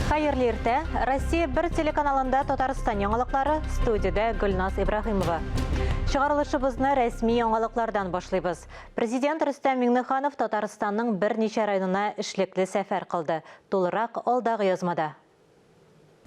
Хәерле иртә. Россия бер телеканалында Татарстан яңалыклары, студиядә Гөлназ Ибраһимова. Чыгарылышыбызны рәсми яңалыклардан башлыйбыз. Президент Рөстәм Миңнеханов Татарстанның берничә районына эшлекле сәфәр кылды. Тулырак алдагы язмада.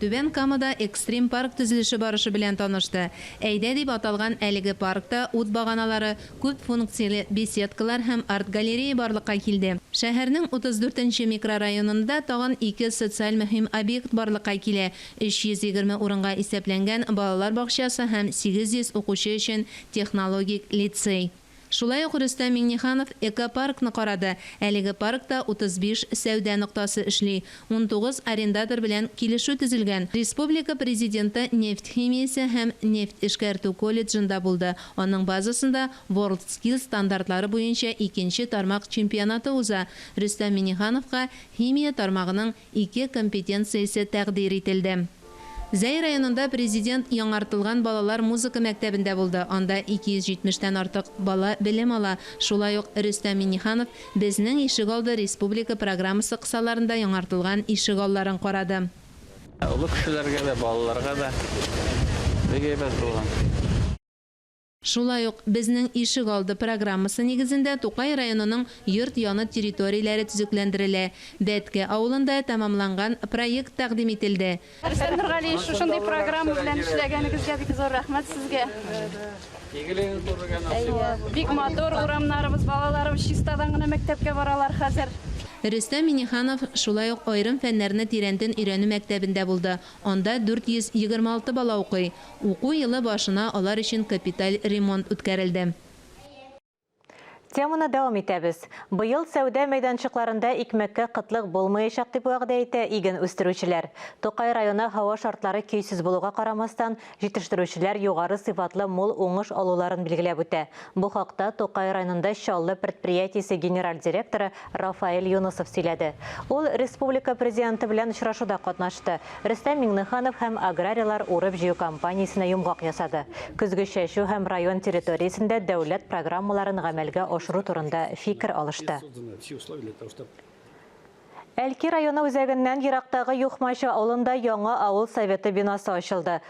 Түбән Камада экстрим-парк төзелеше барышы белән танышты. Әйдә дип аталган әлеге паркта ут баганалары, күп функцияле беседкалар һәм арт-галерея барлыкка килде. Шәһәрнең 34 нче микрорайонында тагын ике социаль мөһим объект барлыкка килә, 320 урынга исәпләнгән балалар бакчасы һәм 800 укучы өчен технологик лицей. Шулай ук Рөстәм Миңнеханов экопаркны карады, әлеге паркта 35 сәүдә ноктасы эшли, унтугыз арендатор белән килешү төзелгән. Республика Президенты нефть химиясе һәм нефть эшкәртү колледжында булды, аның базасында WorldSkills стандартлары буенча икенче тармак чемпионаты уза, Рөстәм Миңнехановка химия тармагының ике компетенциясе тәкъдир ителде. Зәй районында Президент яңартылган балалар музыка мәктәбендә булды, анда 270 тән артык бала белем ала. Шулай ук Рөстәм Миңнеханов Безнең ишегалды республика программасы кысаларында яңартылган ишегалларын карады. Олы кешеләргә дә, балаларга да бик әйбәт булган. Шулай ук Безнең ишек алды программасы нигезендә Тукай районының йорт яны территорияләре төзекләндерелә. Дәткә авылында тәмамланган проект тәкъдим ителде. Рөстәм Нургалиевич, шушындый программа белән эшләгәнегезгә бик зур рәхмәт Сезгә. Әйе, бик матур урамнарыбыз, балаларыбыз чистадан гына мәктәпкә баралар хәзер. Рөстәм Миңнеханов шулай ук аерым фәннәрне тирәнтен өйрәнү мәктәбендә булды, анда 426 бала укый. Уку елы башына алар өчен капиталь ремонт үткәрелде. Теманы дәвам итәбез. Быел сәүдә мәйданчыкларында икмәккә кытлык булмаячак, дип вәгъдә итә иген үстерүчеләр. Тукай районы һава шартлары көйсез булуга карамастан, җитештерүчеләр югары сыйфатлы мул уңыш алуларын билгеләп үтә. Бу хакта Тукай районында Чаллы предприятиесе генераль директоры Рафаэль Юнысов сөйләде. Ул республика Президенты белән очрашуда катнашты, Рөстәм Миңнеханов һәм аграрийлар урып-җыю кампаниясенә йомгак ясады, көзге чәчү һәм район территориясендә дәүләт программаларын гамәлгә ашыру турында фикер алышты. Әлки районы үзәгеннән ерактагы Юхмачы авылында яңа авыл Советы бинасы ачылды.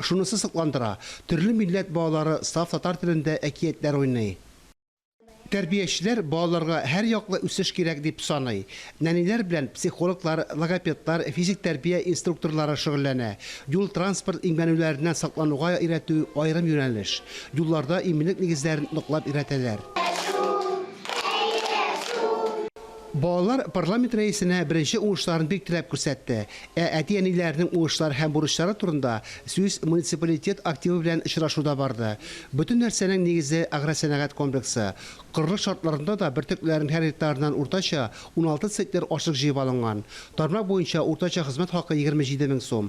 Шунысы сокландыра, төрле милләт балалары саф татар телендә әкиятләр уйный. Тәрбиячеләр балаларга һәрьяклы үсеш кирәк дип саный. Нәниләр белән психологлар, логопедлар, физик тәрбия инструкторлары шөгыльләнә. Юл-транспорт имгәнүләреннән саклануга өйрәтү, аерым юнәлеш. Юлларда иминлек нигезләрен ныклап өйрәтәләр. Әйдә шул, әйдә шул! Балалар парламент рәисенә беренче уңышларын бик теләп күрсәтте, ә әти-әниләренең уңышлары һәм бурычлары турында сүз муниципалитет активы белән очрашуда барды. Бөтен нәрсәнең нигезе, агросәнәгать комплексы. Корылыш шартларында да бөртекләрнең һәр гектарыннан уртача уналты центнер ашлык җыеп алынган. Тармак буенча уртача хезмәт хакы егерме җиде мең сум.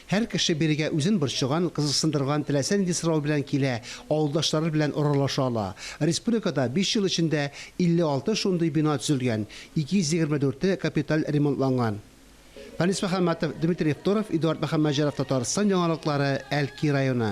Һәр кеше бирегә үзен борчыган, кызыксындырган теләсә нинди сорау белән килә, авылдашлары белән аралаша ала. Республикада биш ел эчендә 56 шундый бина төзелгән, 224-е капиталь ремонтланган. Фәнис Мөхәммәтов, Дмитрий Евторов, Эдуард Мөхәммәтҗанов Татарстан яңалыклары, Әлки районы.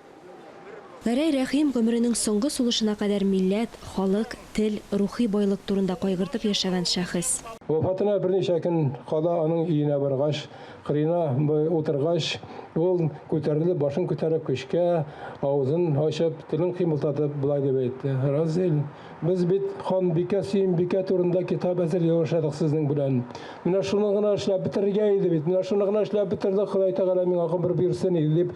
Гәрәй Рәхим гомеренең соңгы сулышына кадәр милләт, халык, тел, рухи байлык турында кайгыртып яшәгән шәхес. Вафатына берничә көн кала аның өенә баргач, кырыена утыргач, ул, күтәрелеп, башын күтәреп көчкә, авызын ачып, телен кыймылтатып, болай дип әйтте, Разил, без бит ханбикә, сөембикә турында китап әзерли башладык сезнең белән. Менә шуны гына эшләп бетерергә иде бит, менә шуны гына эшләп бетердек, Ходай Тәгалә миңа гомер бирсен иде, дип,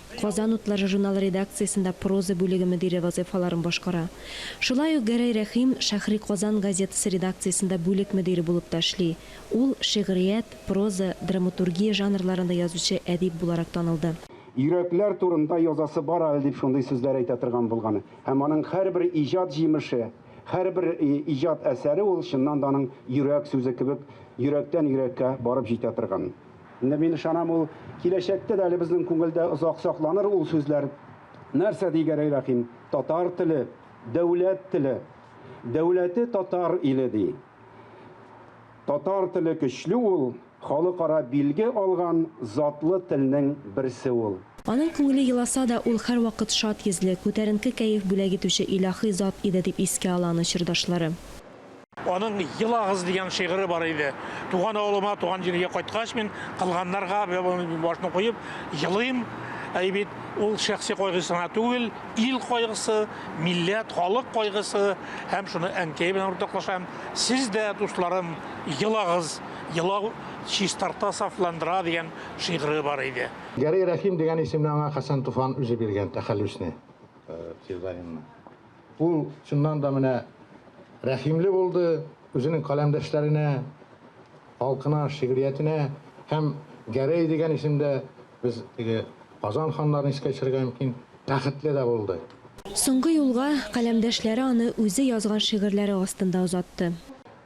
Казан утлары журналы редакциясендә проза бүлеге мөдире вазыйфаларын башкара. Шулай ук Гәрәй Рәхим Шәһри Казан газетасы редакциясендә бүлек мөдире булып та эшли. Ул шигърият, проза, драматургия жанрларында язучы әдип буларак танылды. Йөрәкләр турында язасы бар әле дип шундый сүзләр әйтә торган булган. Һәм аның һәрбер иҗат җимеше, һәрбер иҗат әсәре ул чыннан да аның йөрәк сүзе кебек йөрәктән йөрәккә барып җитә торган. Инде мин ышанам, ул киләчәктә дә әле безнең күңелдә озак сакланыр ул сүзләр. Нәрсә ди Гәрәй Рәхим? Татар теле, дәүләт теле. Дәүләте татар иле ди. Татар теле көчле ул, халыкара билге алган затлы телнең берсе ул. Аның күңеле еласа да, ул һәрвакыт шат йөзле, күтәренке кәеф бүләк итүче илаһи зат иде, дип искә ала аны чордашлары. Аның Елагыз дигән шигыре бар иде. Туган авылыма, туган җиргә кайткач мин кылганнарга башны куеп елыйм. Әй бит ул шәхси кайгысына түгел, ил кайгысы, милләт, халык кайгысы һәм шуны әнкәй белән уртаклашам. Сез дә, дусларым, елагыз. Елау чистарта, сафландыра дигән шигыре бар иде. Гәрәй Рәхим дигән исемне аңа Хәсән Туфан үзе биргән, тәхәллүсне, псевдонимны. Ул, чыннан да, менә рәхимле булды, үзенең каләмдәшләренә, халкына, шигъриятенә һәм Гәрәй дигән исемдә без теге Казан ханнарын искә төшерергә мөмкин, бәхетле дә булды. Соңгы юлга каләмдәшләре аны үзе язган шигырьләре астында озатты.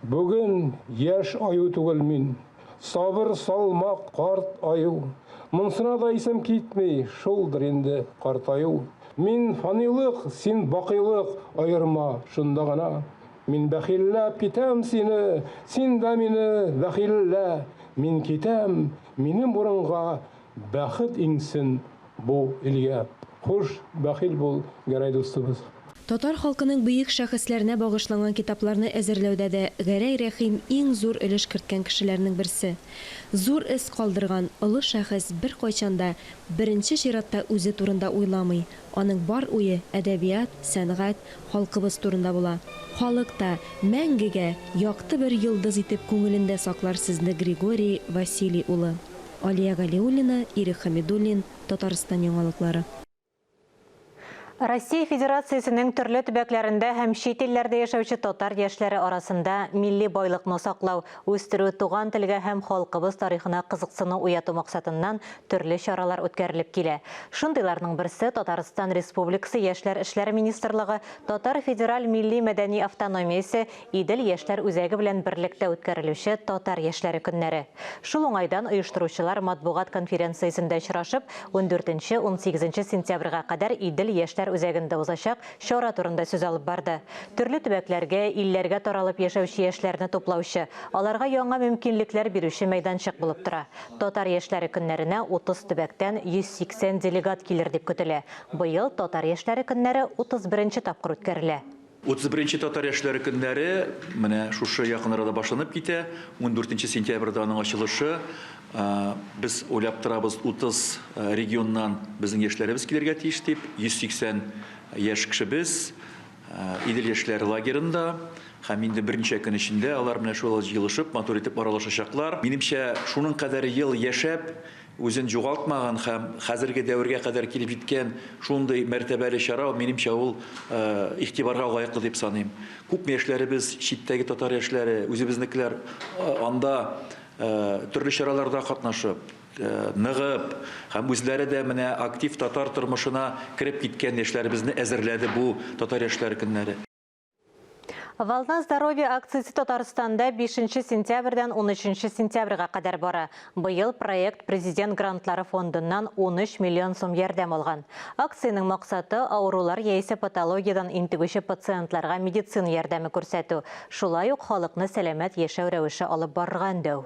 Бүген яшь аю түгел мин. Сабыр, салмак, карт аю. Монсына да исем китми, шулдыр инде картаю. Мин, фанилык, син, бакыйлык, аерма шунда гына. Мин бәхилләп китәм сине, син дә мине бәхиллә. Мин китәм, минем урынга. Бәхет иңсен бу илгә. Хуш, бәхил бул, Гәрәй дустыбыз! Татар халкының бөек шәхесләренә багышланган китапларны әзерләүдә дә Гәрәй Рәхим иң зур өлеш керткән кешеләрнең берсе. Зур эз калдырган олы шәхес беркайчан да беренче чиратта үзе турында уйламый, аның бар уе әдәбият, сәнгать, халкыбыз турында була. Халык та мәңгегә якты бер йолдыз итеп күңелендә саклар сезне Григорий Василий улы. Алия Галиуллина, Ирек Хәмидуллин, Татарстан яңалыклары. Россия Федерациясенең төрле төбәкләрендә һәм чит илләрдә яшәүче татар яшьләре арасында милли байлыкны саклау, үстерү, туган телгә һәм халкыбыз тарихына кызыксыну уяту максатыннан төрле чаралар үткәрелеп килә. Шундыйларның берсе, Татарстан Республикасы Яшьләр эшләре министрлыгы Татар федераль милли-мәдәни автономиясе Идел яшьләр үзәге белән берлектә үткәрелүче Татар яшьләре көннәре. Шул уңайдан оештыручылар матбугат конференциясендә очрашып, ундүртенче, унсигезенче сентябрьгә кадәр Идел яшьләр үзәгендә узачак чара турында сүз алып барды. Төрле төбәкләргә, илләргә таралып яшәүче яшьләрне туплаучы, аларга яңа мөмкинлекләр бирүче мәйданчык булып тора. Татар яшьләре көннәренә 30 төбәктән 180 делегат килер дип көтелә. Быел Татар яшьләре көннәре 31 нче тапкыр үткәрелә. Утыз беренче татар яшьләре көннәре менә шушы якын арада башланып китә. Ундүртенче сентябрьдә аның ачылышы. Без уйлап торабыз, утыз регионнан безнең яшьләребез килергә тиеш дип. Йөз сиксән яшь кешебез Идел яшьләр лагерында. Һәм инде берничә көн эчендә алар менә шулай җыелышып, матур итеп аралашачаклар. Минемчә, шуның кадәр ел яшәп, Үзен югалтмаган һәм хәзерге дәвергә кадәр килеп җиткән шундый мәртәбәле чара, минемчә, ул игътибарга лаеклы дип саныйм. Күпме яшьләребез, читтәге татар яшьләре, үзебезнекеләр анда төрле чараларда катнашып, ныгып һәм үзләре дә менә актив татар тормышына кереп киткән яшьләребезне әзерләде бу Татар яшьләре көннәре. Волна здоровья акциясе Татарстанда 5 сентябрьдән 13 сентябрьгә кадәр бара. Быел проект президент грантлары фондыннан 13 миллион сум ярдәм алган. Акциянең максаты авырулар яисә патологиядән интегүче пациентларга медицина ярдәме күрсәтү, шулай ук халыкны сәламәт яшәү рәвеше алып барырга өндәү.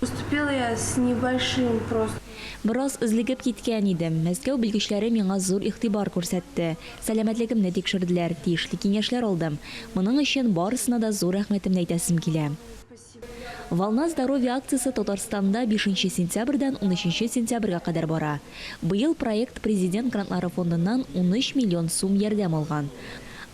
Поступила я с небольшим просто. Бераз злегеп киткән идем. Мәскәү белгечләре миңа зур игътибар күрсәтте. Сәламәтлегемне тикшерделәр, тиешле киңәшләр алдым. Моның өчен барысына да зур рәхмәтемне әйтәсем килә. Волна здоровья акциясе Татарстанда бишенче сентябрьдән унөченче сентябрьгә кадәр бара. Быел проект Президент грантлары фондыннан унөч миллион сум ярдәм алган.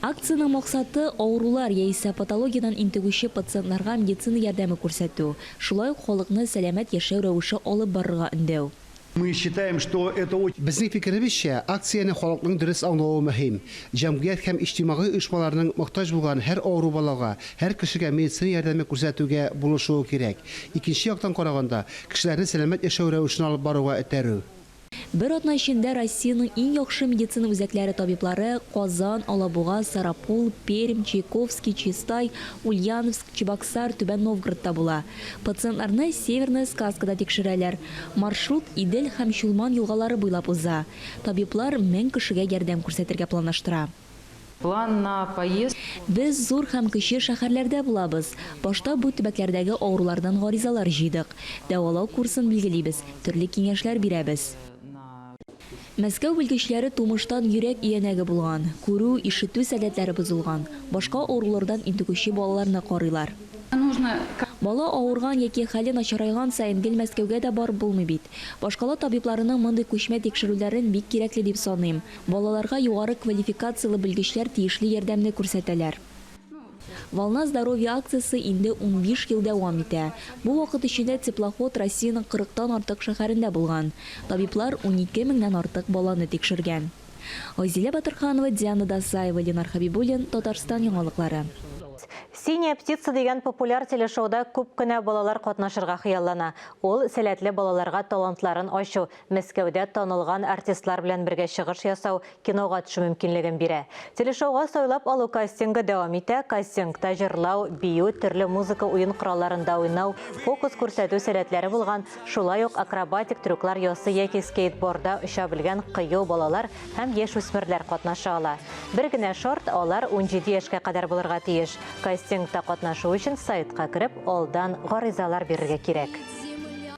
Акциянең максаты, авырулар яисә патологиядән интегүче пациентларга медицина ярдәме күрсәтү, шулай ук халыкны сәламәт яшәү рәвеше алып барырга өндәү. Мы считаем, что это очень. Безнең фикеребезчә, акцияне халыкның дөрес аңлавы мөһим. Җәмгыять һәм иҗтимагый оешмаларның мохтаҗ булган һәр авыру балага, һәр кешегә медицина ярдәме күрсәтүгә булышуы кирәк. Икенче яктан караганда, кешеләрне сәламәт яшәү рәвешен алып баруга этәрү. Бер атна эчендә Россиянең иң яхшы медицина үзәкләре табиблары Казан, Алабуга, Сарапул, Пермь, Чайковский, Чистай, Ульяновск, Чебоксар, Түбән Новгородта була. Пациентларны Северная Сказкада тикшерәләр. Маршрут Идел һәм Чулман елгалары буйлап уза. Табиблар мең кешегә ярдәм күрсәтергә планлаштыра. План на поезд. Без зур һәм кече шәһәрләрдә булабыз. Башта бу төбәкләрдәге авырулардан гаризалар җыйдык. Дәвалау курсын билгелибез, төрле киңәшләр бирәбез. Мәскәү белгечләре тумыштан йөрәк өянәге булган, күрү, ишетү сәләтләре бозылган, башка авырулардан интегүче балаларны карыйлар. Бала авырган яки хәле начарайган саен гел Мәскәүгә дә барып булмый бит. Башкала табибларының мондый күчмә тикшерүләрен бик кирәкле дип саныйм. Балаларга югары квалификацияле белгечләр тиешле ярдәмне күрсәтәләр. Волна здоровья акциясе инде унбиш ел дәвам итә. Бу вакыт эчендә теплоход Россиянең кырыктан артык шәһәрендә булган. Табиблар унике меңнән артык баланы тикшергән. Айзилә Батырханова, Диана Дасаева, Ленар Хәбибуллин, Татарстан яңалыклары. Синяя птица дигән популяр телешоуда күп кенә балалар катнашырга хыяллана. Ул, сәләтле балаларга талантларын ачу, Мәскәүдә танылган артистлар белән бергә чыгыш ясау, кинога төшү мөмкинлеген бирә. Телешоуга сайлап алу кастингы дәвам итә, кастингта җырлау, бию, төрле музыка уен коралларында уйнау, фокус күрсәтү сәләтләре булган, шулай ук акробатик трюклар ясый яки скейтборда оча белгән кыю балалар һәм яшүсмерләр катнаша ала. Бер генә шарт, алар унҗиде яшькә кадәр булырга тиеш. Кастингта катнашу өчен сайтка кереп, алдан гаризалар бирергә кирәк.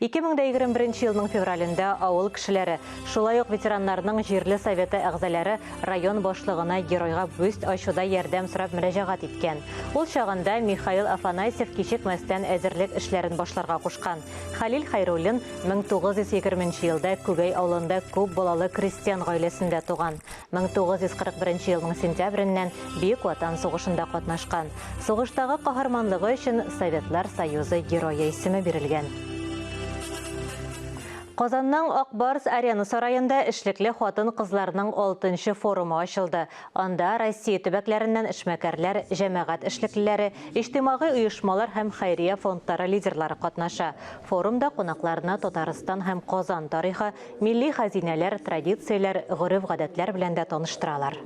2021 нче елның февралендә авыл кешеләре, шулай ук ветераннарның җирле советы әгъзаләре район башлыгына геройга бюст ачуда ярдәм сорап мөрәҗәгать иткән. Ул чагында Михаил Афанасьев кичекмәстән әзерлек эшләрен башларга кушкан. Хәлил Хәйруллин 1920 нче елда Күгәй авылында күп балалы крестьян гаиләсендә туган. 1941 елның сентябреннән Бөек Ватан сугышында катнашкан, сугыштагы каһарманлыгы өчен Советлар Союзы Герое исеме бирелгән. Казанның Ак Барс Арена сараенда эшлекле хатын-кызларның алтынчы форумы ачылды. Анда Россия төбәкләреннән эшмәкәрләр, җәмәгать эшлеклеләре, иҗтимагый оешмалар һәм хәйрия фондлары лидерлары катнаша. Форумда кунакларны Татарстан һәм Казан тарихы, Милли хәзинәләр, традицияләр, гореф-гадәтләр белән дә таныштыралар.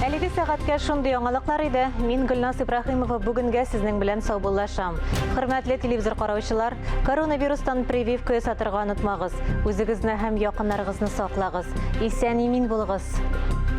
Әлеге сәгатькә шундый яңалыклар иде. Мин Гөлназ Ибраһимова бүгенгә сезнең белән саубуллашам. Хөрмәтле телевизор караучылар, коронавирустан прививка ясатырга онытмагыз, үзегезне һәм якыннарыгызны саклагыз, исән-имин булыгыз!